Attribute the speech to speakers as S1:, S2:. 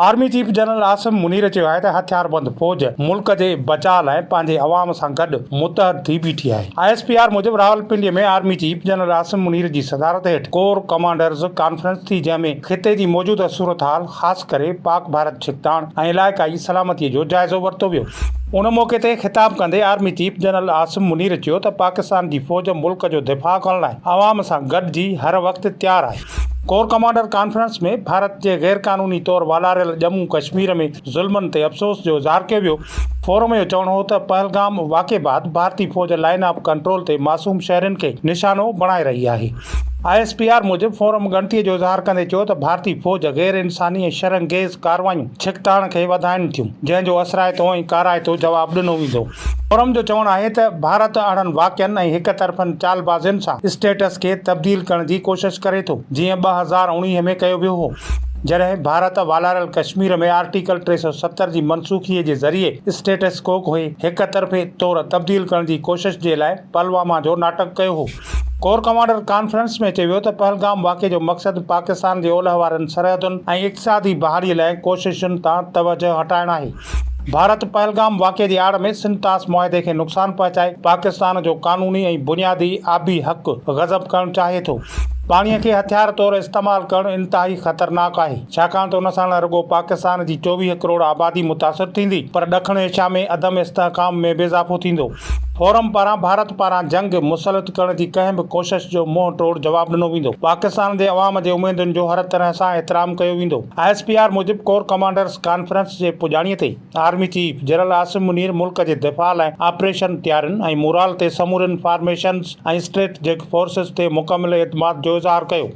S1: Army chief general Asim Munir چيو آهي ته هٿياربند فوج ملڪ جي بچاء لاء پنهنجي عوام سان گڏ متحد ٿي بيٺي آهي. آء ايس پي آر موجب Rawalpindi ۾ army chief general Asim Munir جي صدارت هيٺ ڪور ڪمانڊرز ڪانفرنس ٿي جنهن ۾ خطي جي موجوده صورتحال خاص ڪري پاڪ ڀارت ڇڪتاڻ ۽ علائقائي سلامتي جو جائزو ورتو ويو. ان موقعي تي خطاب ڪندي army chief general Asim Munir چيو ته پاڪستان جي فوج ملڪ جو دفاع ڪرڻ لاء عوام سان گڏجي هر وقت تيار آهي. ڪور ڪمانڊر ڪانفرنس ۾ ڀارت جي غير قانوني طور والاريل ڄمون ڪشمير ۾ ظلمن تي افسوس جو اظهار ڪيو ويو. فورم جو چوڻ هو ته پهلگام واقعي بعد ڀارتي فوج لائن آف ڪنٽرول تي معصوم شهرين کي نشانو بڻائي رهي آهي. آء ايس پي آر موجب فورم ڳڻتي جو اظهار ڪندي چيو ته ڀارتي فوج غير انساني ۽ شرنگيز ڪارروايون ڇڪتاڻ کي وڌائين ٿيون جنهن جو اثرائتو ۽ ڪارائتو جواب ڏنو ويندو. فورم جو چوڻ آهي ته ڀارت اهڙن واقعن ۽ هڪ طرفن چالبازين سان اسٽيٽس کي تبديل ڪرڻ جي ڪوشش ڪري ٿو جيئن ٻه هزار اوڻيهه ۾ ڪيو ويو هو جڏهن ڀارت والاريل ڪشمير ۾ آرٽيڪل ٽي سؤ ستر جي منسوخي جي ذريعي اسٽيٽس ڪو کي هڪ طرفي طور تبديل ڪرڻ جي ڪوشش جي لاء پهلواما جو ناٽڪ ڪيو هو. ڪور ڪمانڊر ڪانفرنس ۾ چيو ويو ته پهلگام واقعي جو مقصد پاڪستان جي اولهه وارين سرحدن ۽ اقتصادي بحالي لاء ڪوششن تان توجهه هٽائڻ آهي. ڀارت پهلگام واقعي جي آڙ ۾ سنڌ طاس معاهدي کي نقصان پهچائي پاڪستان جو قانوني ۽ بنيادي آبي حق غضب ڪرڻ چاهي ٿو. پاڻي کي هٿيار طور استعمال ڪرڻ انتهائي خطرناڪ آهي ڇاڪاڻ ته ان سان نه رڳو پاڪستان جي چوويهه ڪروڙ آبادي متاثر ٿيندي پر ڏکڻ ايشيا ۾ عدم استحڪام ۾ به اضافو ٿيندو. فورم پاران ڀارت پاران جنگ مسلط ڪرڻ جي ڪنهن به ڪوشش جو منهن ٽوڙ جواب ڏنو ويندو، پاڪستان جي عوام جي اميدن جو هر طرح سان احترام ڪيو ويندو. آء ايس پي آر موجب ڪور ڪمانڊرز ڪانفرنس جي پڄاڻي تي army chief general Asim Munir ملڪ جي دفاع لاء آپريشن تيارين ۽ مورال تي سمورين فارميشنز ۽ اسٽريٽجڪ فورسز تي مڪمل اعتماد جو اظهار ڪيو.